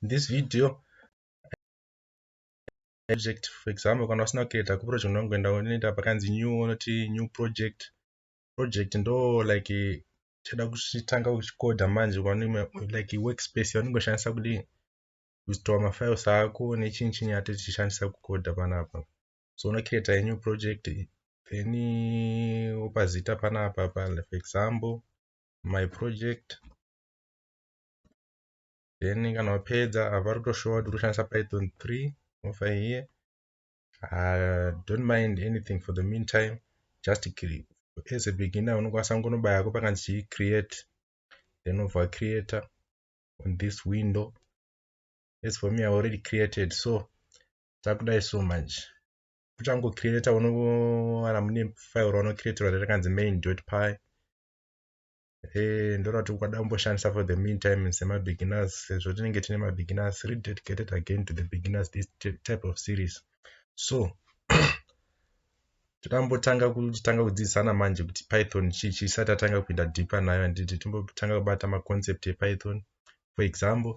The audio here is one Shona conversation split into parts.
in this video project for example kana usina kucreata kuproject unongoenda unoita pakanzi new unoti new project project ndo like chada kuchitanga kuchikoda manje like workspace yaunongoshandisa kudii kuzvitova mafiles ako nechinyi chinyi ato tichishandisa kukoda panapa so unocreata a new project then wopa zita panapa pa for example my project then kana wapedza apa rotoshowa kuti roshandisa python 3 mofa here uh, don't mind anything for the meantime just as a beginner unokwanisa kungonobaya ko pakanzi chii create then obva creator on this window as for me i already created so takudai so much kuchango creator unowana mune file raunocreatora rakanzi main py eh, ndorati ukada kumboshandisa for the meantime semabeginners sezvo tinenge tine mabeginners rededicated again to the beginners this type of series so tikambotanga kutanga kudzidzisana manje kuti python chii chisati atanga kuinda deeper nayo handiti timbotanga kubata maconcept epython for example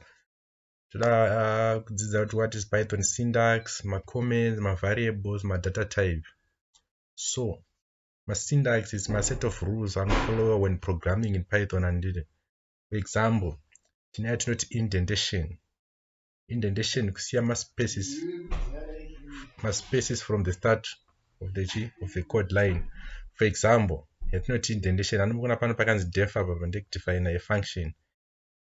toda ah, kudzidza kuti what is python syntax macomments mavariables madata type so masyntax is maset of rules anofollower when programming in python handiti for example tine yatinoti indentation indentation kusiya maspaces maspaces from the start of the chi of the code line for example yatinoti indentation anomuona pano pakanzi def apa pandekudefina yefunction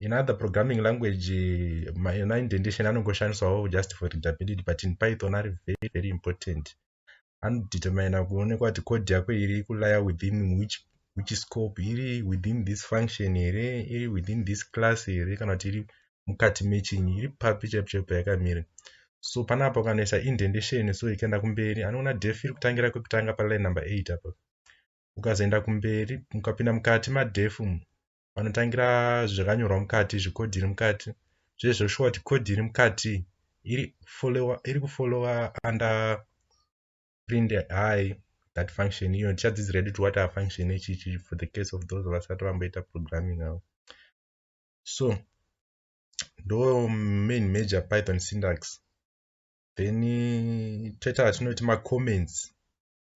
in other programming language ma indentation anongoshandiswawo just for readability but in python ari very very important anodetermina kuonekwa kuti code yako iri kulaya within which which scope iri within this function here iri within this class here kana kuti iri mukati mechinyi iri papi chaipo chaipo yakamira so panapa ukanoisa indentation so ikaenda kumberi anoona def iri kutangira kwekutanga paline number 8 apa ukazoenda kumberi ukapinda mukati madef umu vanotangira zvakanyorwa mukati zvekodhi iri mukati zvezvoshuwa kuti kodhi iri mukati iri kufollowa under print high that function iyo tichadzidzira yedu kuti what are function ichichi for the case of those vasati vamboita programming avo so ndo main major python syntax then toita vatinoti macomments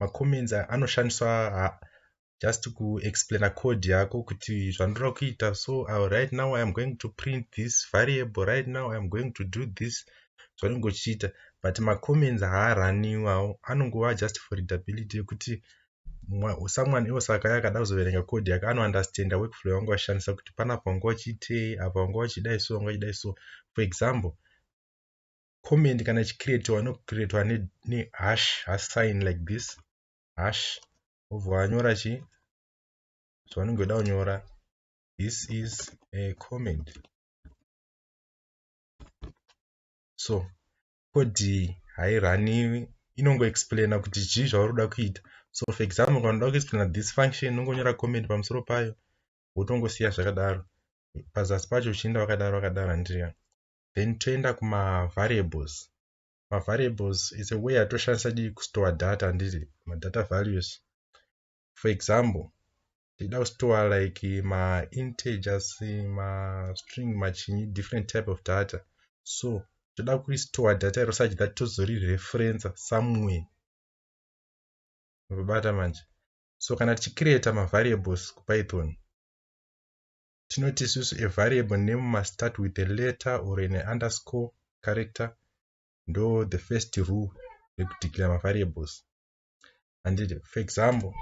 macomments anoshandiswa just kuexplaina code yako kuti zvandoda kuita so uh, right now iam going to print this variable right now iam going to do this zvaunenge uchiita but macomments haaraniwawo anongova just for readability yekuti someone else akaya akada kuzoverenga code yake anounderstanda workflow yawanga wachishandisa kuti panapa wanga wachiitei apa wanga wachidai so wanga wachidai so for example comment kana ichicreatiwa inocreatiwa nehash hash sign like this hash obva wanyora chi zvaunenge weda kunyora this is a comment so kodi hairaniwi inongoexplaina kuti chii zvauri kuda kuita so for example kana unoda kuexplaina this function unongonyora comment pamusoro payo wotongosiya zvakadaro pazasi pacho uchienda wakadaro wakadaro handiriya then toenda kumavariables mavariables is a way atoshandisa dii kustore data handiti madata values for example ndida kustore like maintegers mastring machinyi different type of data so toda kuristore data iro such that tozorireferensa somewhere mabata manje so kana tichicreata mavariables kupython tinoti isusu a variable name must start with a letter or an underscore character ndo the first rule yekudeclare mavariables handiti for example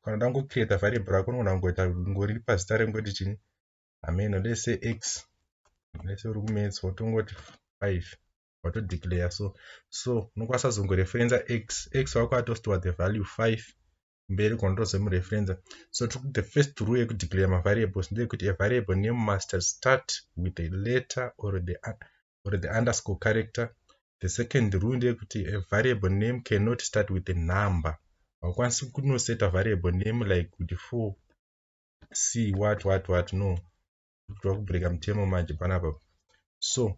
kana uda kungocreata variable rako unogona kungoita ngori pazita rengoti chini hameno let's say x let's say uri kumaths wotongoti five watodeclare so so unokwanisa kuzongoreferenza x x wako atositiwa the value five kumberi ko ndozomureferenza so tiri kuti the first rule yekudeclare mavariables ndeyekuti a variable name must start with a letter or the, or the underscore character the second rule ndeyekuti a variable name cannot start with a number haukwanisi kunoseta variable name like kuti for c what what what no tava kubreaka mutemo manje panapa so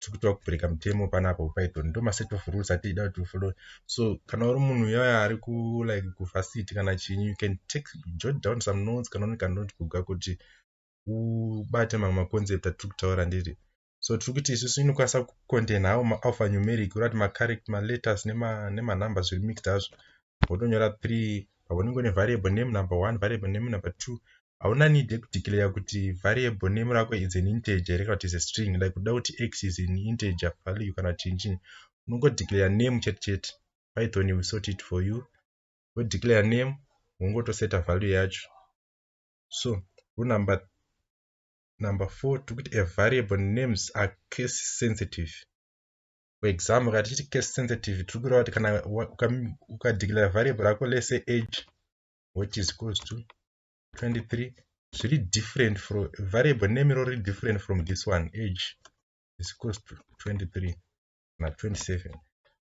tikutoda kubreaka mutemo panapa kupython ndo maset of rules atiida kuti ufollowe so kana uri munhu uyaya ari ku like kuvasity kana chinyi you can take jot down some notes kana une kanote kuga kuti ubate mamwe maconcept atiri kutaura ndiri so tiri kuti isusu inokwanisa kucontaina awo maalpha numeric ura kuti macarect maletters nemanumber zviri mixed azvo wotonyora three paunenge une variable name number one variable name number two hauna need yekudeclare kuti variable name rako is an integer here kana kuti is a string like kuda kuti x is an integer value kana kuti chinchini unongodeclare name chete chete python will sort it for you wodeclare name wongotoseta value yacho so runumber number four tikuti a variable names are case sensitive for example kana tichiti case sensitive tiri kureva kuti kana ukadeclare variable rako lese age which is equals to 23 zviri different from variable name iro riri different from this one age is equals to 23 na 27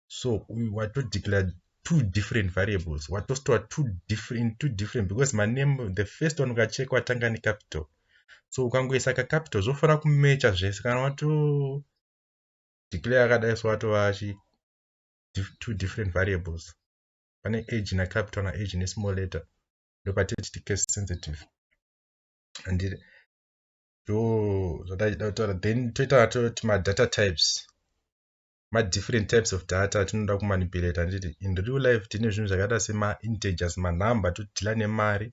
so uyu watodeclare two different variables watostora two different two different because maname the first one ukacheka watanga necapital so ukangoisa kacapital zvofanira kumecha zvese kana wato declare akadai so watova chi two different variables pane age na capital na age ne small letter ndopatiri titi case sensitive andiri ndo zvataida kutaura then toita toti madata types madifferent types of data atinoda kumanipulata anditi in real life tine zvinhu zvakaita semaintegers manumber totodhila nemari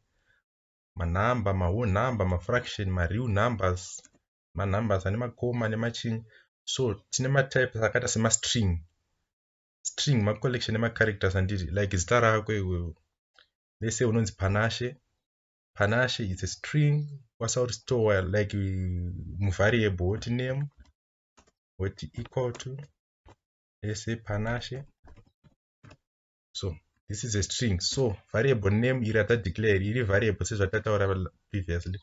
manumber mawhole number mafraction mareal numbers manumbers ane makoma nemachinyi so tine matypes akaita semastring string ma collection nema characters handiti like zita rako iwewe let's say unonzi panashe panashe it's a string kwasa uri store like muvariable woti name woti equal to let's say panashe so this is a string so variable name iri ata declare iri variable sezvatataura previously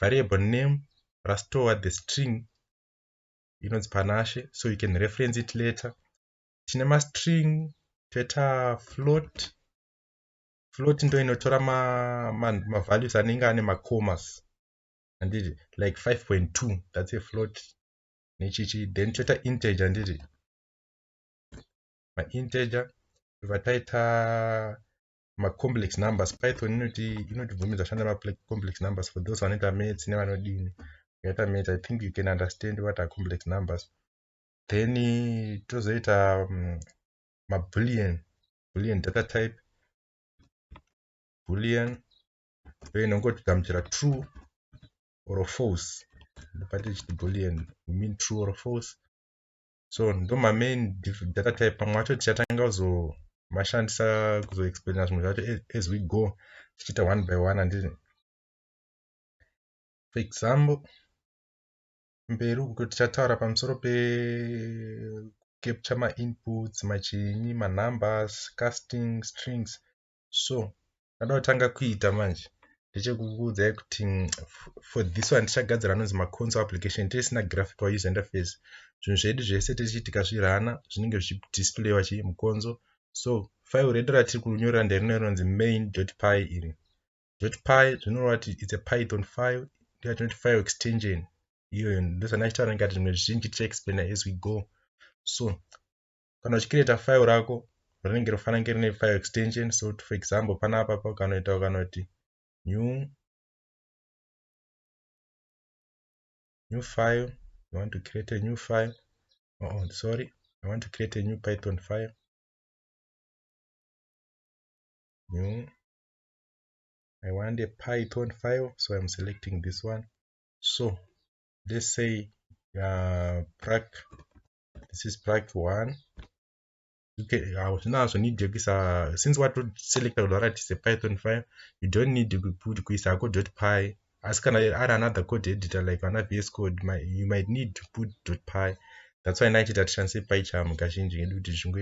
variable name rastore the string inonzi panashe so you can reference it later tine mastring toita float float ndo inotora mavalues ma, ma anenge ane macomas handiti like 5.2 that's a float nechichi then toita integer handiti mainteger tobva taita macomplex numbers python inoti inotibvumidza kushanda macomplex numbers for those vanoita maths nevanodini vakaita maths i think you can understand what are complex numbers then tozoita um, mabullion bullion data type bullion uye inongotigamuchira true or false ndopati chiti bullion we mean true or false so ndomamain data type pamwe acho tichatanga kuzomashandisa kuzoexplaina zvimwe zvacho as we go tichiita one by one handiti for example mberi uko tichataura pamusoro pecapture mainputs machinyi manumbers casting strings so Chandinotanga kuita manje ndechekukuudzai kuti mm, for this one tichagadzira anonzi maconsol application tisina graphical user interface zvinhu zvedu zvese tichiitika zvirana zvinenge zvichidisplayiwa chii mukonzo so file redu ratiri kunyorera nderino rinonzi main py iri py zvinoreva kuti its a python file yatinoti file extension iyoyo ndosana chitaura ngati zvimwe zvizhinji tichaexplaina as we go so kana uchicreata file rako rinenge rofanira kunge rine file extension so for example panapa pakanoita ukanoti new new file i want to create a new file oh, oh sorry i want to create a new python file new i want a python file so i'm selecting this one so let's say uh, prac this is plug one okay hazvinazvo need yekuisa since watoselecta kuti waratise python file you don't need kuti kuisa hako dot py asi kana ari another code editor like ana vs code you might need to put dot py that's why naichita tishandise pycharm kazhinji kedu kuti zvingoita